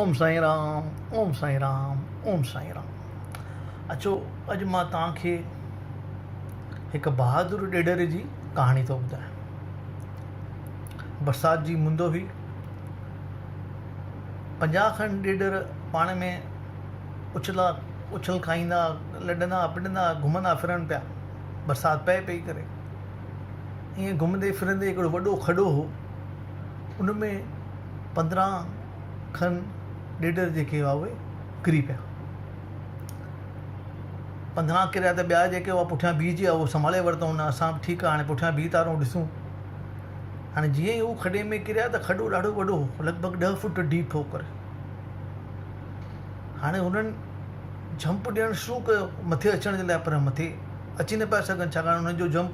اوم سائين رام اوم سائين رام اوم سائين رام اچو اڄ مان توهان کي هڪ بهادر ڏيڏر جي ڪهاڻي ٿو ٻڌايان برسات جي مند هئي پنجاهه کن ڏيڏر پاڻ ۾ اڇلا اڇل کائيندا لڏندا پڏندا گهمندا ڦرن پيا برسات پئي پئي ڪري ائين گهمندي ڦرندي هڪڙو وڏو کڏو هو ان ۾ پندرهن کن ڏيڏر جيڪي هئا اهي ڪري پيا پندرهن ڪريا ته ٻيا جيڪي هئا پٺيان بيهه جي هئا سنڀالي ورتو ان اسان به ٺيڪ آهي پٺيان بيهه ٿا رهون ڏسون هاڻي جيئن ئي هو کڏي ۾ ڪريا ته کڏو ڏاڍو وڏو هو لڳ ڀڳ ڏهه فوٽ ڊيپ هو ڪري هاڻي هنن جمپ ڏيڻ شروع ڪيو مٿي اچڻ جي لاء پر مٿي اچي نه پيا سگهن ڇاڪاڻ هنن جو جمپ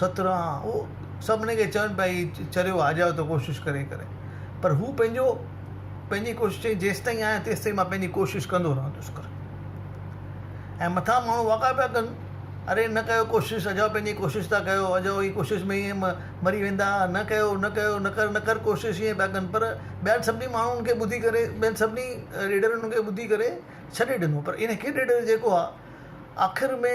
سترا او سڀني کي چون پيا هي چريو آ جاء تو ڪوشش ڪري ڪري پر هو پنهنجو پنهنجي ڪوشش چئين جيستائين آهيان تيستائين مان پنهنجي ڪوشش ڪندو رهندس ڪر ۽ مٿا ماڻهو واڪا پيا ڪن اري نه ڪيو ڪوشش اجاء پنهنجي ڪوشش ٿا ڪيو اجاء هي ڪوشش ۾ ائين مري ويندا نه ڪيو نه ڪيو نه ڪر نه ڪر ڪوشش ائين پيا ڪن پر ٻين سڀني ماڻهن کي ٻڌي ڪري ٻين سڀني ڏيڏرن کي ٻڌي ڪري ڇڏي ڏنو پر ان هڪ ڏيڏر جيڪو آ آخر ۾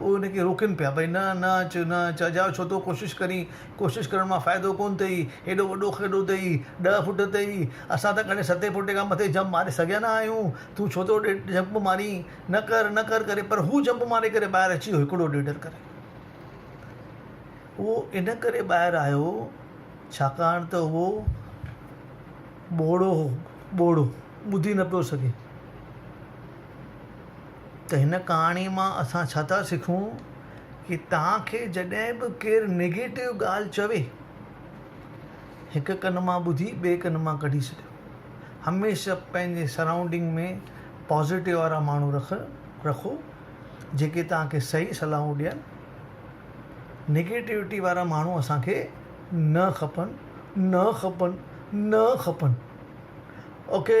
هو هن کي روڪين پيا، ڀئي نه، نه اچ، نه اچ، اجايو ڇو ٿو ڪوشش ڪرين، ڪوشش ڪرڻ مان فائدو ڪونه ٿئي، هيڏو وڏو کيڏو اٿئي، ڏهه فوٽ اٿئي، اسان ته ڪڏهن ستين فوٽين کان مٿي جمپ ماري سگهيا نه آهيون، تون ڇو ٿو جمپ مارين، نه ڪر، نه ڪر ڪري پر هو جمپ ماري ڪري ٻاهر اچي ويو هڪڙو ڏيڍر ڪري. اهو ان ڪري ٻاهر آيو ڇاڪاڻ ته اهو ٻوڙو هو، ٻوڙو، ٻڌي نه پيو سگهي. ته هن ڪهاڻي مان اسان ڇا ٿا سکون ڪي توهان کي جڏهن به ڪير نيگيٽو ڳالهه چوي هڪ ڪن مان ٻڌي ٻي ڪن مان ڪڍي ڇڏيو هميشه پنهنجي سرائونڊنگ ۾ پازيٽو وارا ماڻهو رکو جيڪي توهان کي صحيح صلاحون ڏين نيگيٽوٽي وارا ماڻهو اسان کي نه کپن نه کپن نه کپن اوڪي